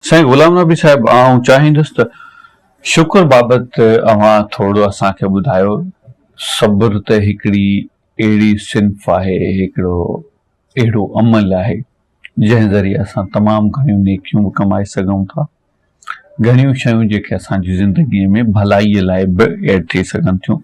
سائين غلام نبي صاحب آئون چاهيندس ته شڪر بابت اوهان ٿورڙو اسان کي ٻڌايو صبر ته هڪڙي اهڙي صنف آهي هڪڙو اهڙو عمل آهي جنهن ذريعي اسان تمام گهڻيون نيڪيون به ڪمائي سگهون ٿا گهڻيون شيون جيڪي اسان جي زندگي ۾ ڀلائي لاء به ايڊ ٿي سگهن ٿيون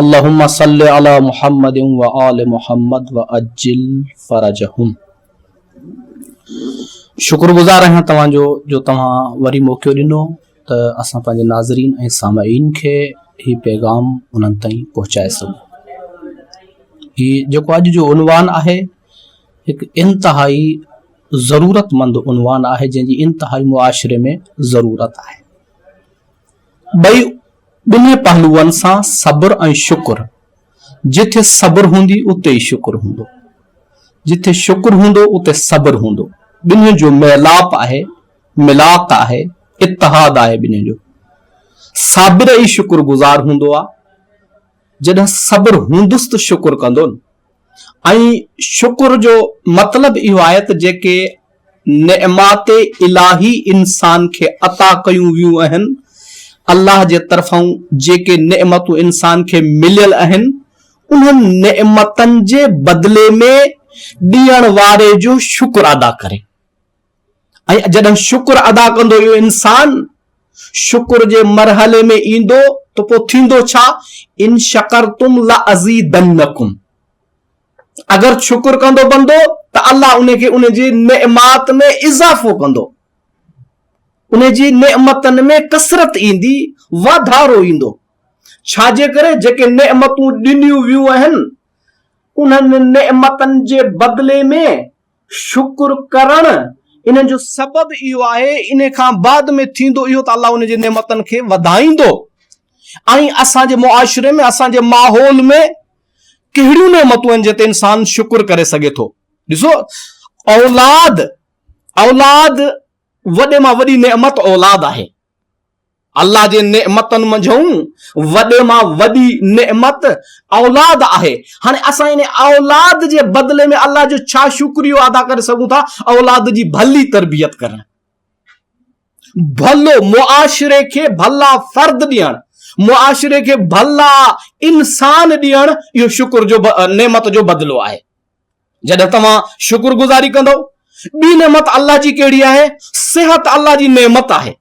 اللهم صل علی محمد و آل محمد وعجل فرجهم شڪر گذار آهيان توهان جو جو توهان وري موقعو ڏنو ته اسان پنهنجي ناظرين ۽ سامعين کي هي پيغام انهن تائين پهچائي سگهون هي جيڪو اڄ جو عنوان آهي هڪ انتهائي ضرورت مند عنوان آهي جنهن جي انتهائي معاشري ۾ ضرورت آهي ٻئي ٻنهي پهلوئن سان صبر ۽ شڪر، جتي صبر هوندي اتي ئي شڪر هوندو، جتي شڪر هوندو اتي صبر هوندو، ٻنهين جو ميلاپ آهي، ملاق آهي، اتحاد آهي ٻنهين جو، صابر ئي شڪر گذار هوندو آ، جڏهن صبر هوندس ته شڪر ڪندو نه، ۽ شڪر جو مطلب اهو آهي ته جيڪي نعمات الاهي انسان کي عطا ڪيون ويون اهن، الله جي طرفان جيڪي نعمتون انسان کي مليل اهن، انهن نعمتن جي بدلي ۾ ڏيڻ واري جو شڪر ادا ڪري. ۽ جڏهن شڪر ادا ڪندو اهو انسان شڪر جي مرحلي ۾ ايندو ته پوء ٿيندو ڇا ان شڪرتم لازيدنڪم اگر شڪر ڪندو بندو ته الله ان کي ان جي نعمات ۾ اضافو ڪندو ان جي نعمتن ۾ ڪثرت ايندي واڌارو ايندو ڇا جي ڪري جيڪي نعمتون ڏنيون ويون آهن انهن نعمتن جي بدلي ۾ شڪر ڪرڻ ان جو سبب اهو آهي، ان کان بعد ۾ ٿيندو اهو ته الله ان جي نعمتن کي وڌائيندو ۽ اسان جي معاشري ۾ اسان جي ماحول ۾ ڪهڙيون نعمتون آهن جنهن تي انسان شڪر ڪري سگهي ٿو ڏسو اولاد اولاد وڏي مان وڏي نعمت اولاد آهي الله جي نعمتن منجهون وڏي مان وڏي نعمت اولاد آهي. هاڻي اسان ان اولاد جي بدلي ۾ الله جو ڇا شڪريو ادا ڪري سگهون ٿا؟ اولاد جي ڀلي تربيت ڪرڻ، ڀلو معاشري کي ڀلا فرد ڏيڻ، معاشري کي ڀلا انسان ڏيڻ اهو شڪر جو نعمت جو بدلو آهي. جڏهن توهان شڪر گذاري ڪندؤ، ٻي نعمت الله جي ڪهڙي آهي؟ صحت الله جي نعمت آهي.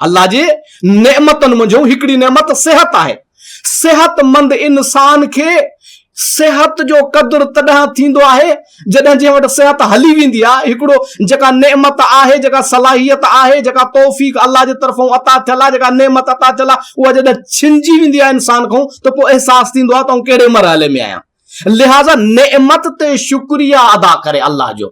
الله جي نعمتن منجهو هڪڙي نعمت صحت آهي صحت مند انسان کي صحت جو قدر تڏهن ٿيندو آهي جڏهن جنهن وٽ صحت هلي ويندي آهي هڪڙو جيڪا نعمت آهي جيڪا صلاحيت آهي جيڪا توفيق الله جي طرفان عطا ٿيل آهي جيڪا نعمت عطا ٿيل آهي اها جڏهن ڇنجي ويندي آهي انسان کان ته پوء احساس ٿيندو آهي ته آئون ڪهڙي مرحلي ۾ آهيان لهذا نعمت تي شڪريا ادا ڪري الله جو